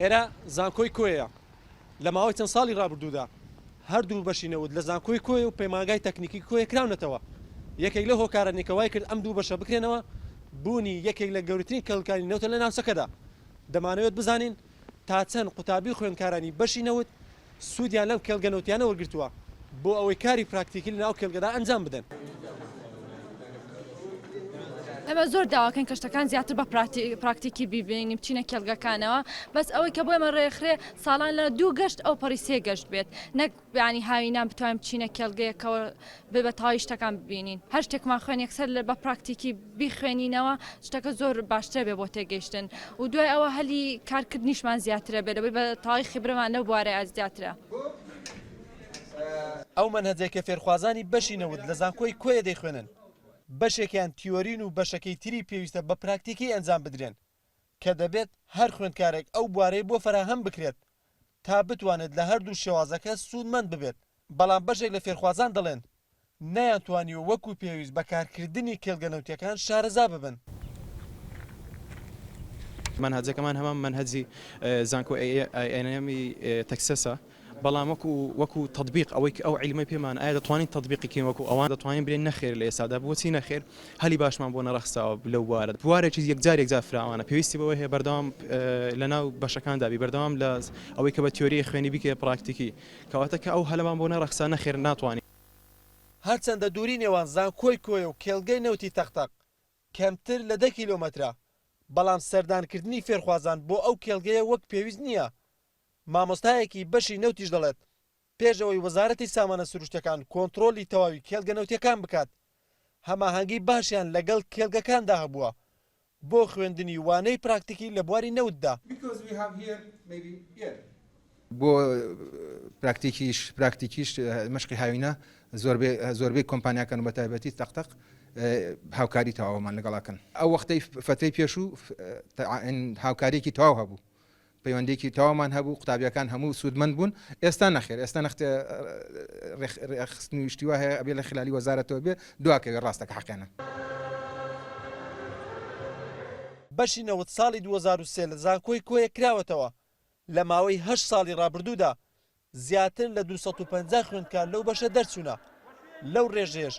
ئێرە زانکۆی کۆیەیە، لە ماوەی چەند ساڵی ڕابردوودا هەردوو بەشی نەوت لە زانکۆی کۆیە و پەیمانگای تەکنیکی کۆیە کراونەتەوە، یەکێک لەو هۆکارانەی کە وایکرد ئەم دوو بەشە بکرێنەوە بوونی یەکێک لە گەورەترین کەڵکانی نەوتە لە ناوچەکەدا، دەمانەوێت بزانین تا چەند قوتابی و خوێندکارانی بەشی نەوت سوودیان لەم کێڵگە نەوتییانە وەرگرتووە بۆ ئەوەی کاری پراکتیکی لە ناو کێڵگەدا ئەنجام بدەن. ئێمە زۆر داواکەین کە شتەکان زیاتر بە پراکتیکی بیبینین بچینە کێڵگەکانەوە بەس ئەوەی کە بۆێمە ڕێکخرێ ساڵان لە دوو گەشت ئەو پەڕی سێ گەشت بێت نەک بیانی هاوینان بتوانین بچینە کێڵگەیەکەوە بێ بە تەواوی شتەکان ببینین هەر شتێکمان خوێن یەکسەر لە بە پراکتیکی بیخوێنینەوە شتەکە زۆر باشترە بێ بۆ تێگەیشتن و دوای ئەوە هەلی کارکردنیشمان زیاترە بێت لەبەر بە تەواوی خیبرەمان لەو بوارەیە زیاترە. ئەو مەنهەجەی کە فێرخوازانی بەشی نەوت لە زانکۆی کۆیە دەیخوێنن بەشێکیان تیۆرین و بەشەکەی تری پێویستە بە پراکتیکی ئەنجام بدرێن کە دەبێت هەر خوێندکارێک ئەو بوارەی بۆ فەراهەم بکرێت تا بتوانێت لە هەردوو شێوازەکە سوودمەند ببێت، بەڵام بەشێک لە فێرخوازان دەڵێن، نەیانتوانیوە وەکو پێویست بە کارکردنی کێڵگە نەوتییەکان شارەزا ببن. مەنهەجەکەمان هەمان مەنهەجی زانکۆی ئەی ئێن ئێم ی تەکسەسە. بەڵام وەکو وەکو تەتبیق ئەوەی ئەو عیلمەی پێمان ئایا دەتوانین تەتبیقی کەین وەکو ئەوان دەتوانین بلێین نەخێر لە ئێستادا بۆچی نەخێر هەلی باشمان بۆ نەڕەخساوە لەو بوارە بوارێکی یەکجار یەکجار فراوانە پێویستی بەوەی هەیە بەردەوام لەناو بەشەکاندا بی بەردەوام لە ئەوەی کە بە تیۆری خوێنی بیکەیە پراکتیکی کەواتە کە ئەو هەلەمان بۆ نەڕەخسا نەخێر ناتوانین. هەرچەندە دووری نێوان زانکۆی کۆیە و کێڵگەی نەوتی تەق تەق کەمتر لە دە کیلۆمەترە بەڵام سەردانکردنی فێرخوازان بۆ ئەو کێڵگەیە وەک پێویست نییە مامۆستایەکی بەشی نەوتیش دەڵێت، پێش ئەوەی وەزارەتی سامانە سروشتیەکان کۆنتڕۆڵی تەواوی کێڵگە نەوتیەکان بکات، هەماهەنگی باشیان لەگەڵ کێڵگەکاندا هەبووە بۆ خوێندنی وانەی پراکتیکی لە بواری نەوتدا. بۆ پراکتیکیش پراکتیکیش مەشقی هاوینە زۆربەی زۆربەی کۆمپانیاکان و بە تایبەتی تەق تەق هاوکاری تەواومان لەگەڵ ئەکەن. ئەو وەختەی فترەی پێشوو هاوکاریەکی تەواو هەبوو پەیوەندیەکی تەواومان هەبوو قوتابیەکان هەموو سوودمەند بوون ئێستا نەخێر ئێستا نەخت ڕێکخستنی شتی وا هەیە ئەبێ لە خلالی وەزارەتەوە بێ دواکەوێ ڕاستە کە حەقێنە. بەشی نەوت ساڵی دوو هەزار و سێ لە زانکۆی کۆیە کراوەتەوە، لە ماوەی هەشت ساڵی ڕابردوودا زیاتر لە دوو سەد و پەنجا خوێندکار لەو بەشە دەرچوونە، لەو ڕێژەیەش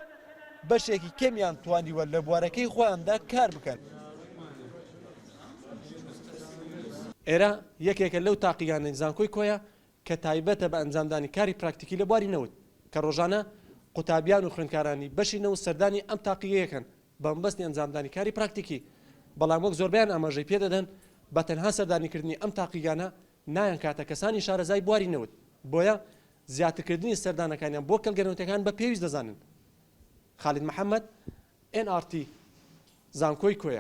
بەشێکی کەمیان توانیوە لە بوارەکەی خۆیاندا کار بکەن. ئێرە یەکێکە لەو تاقیگانەی زانکۆی کۆیە کە تایبەتە بە ئەنجامدانی کاری پراکتیکی لە بواری نەوت، کە ڕۆژانە قوتابیان و خوێندکارانی بەشی نەوت سەردانی ئەم تاقیگەیەکەن بەمەبەستی ئەنجامدانی کاری پراکتیکی، بەڵام وەک زۆربەیان ئاماژەی پێدەدەن بە تەنها سەردانیکردنی ئەم تاقیگانە نایانکاتە کەسانی شارەزای بواری نەوت، بۆیە زیاترکردنی سەردانەکانیان بۆ کەڵگە نەوتییەکان بە پێویست دەزانن. خالید محەمەد، ئێن ئاڕ تی، زانکۆی کۆیە.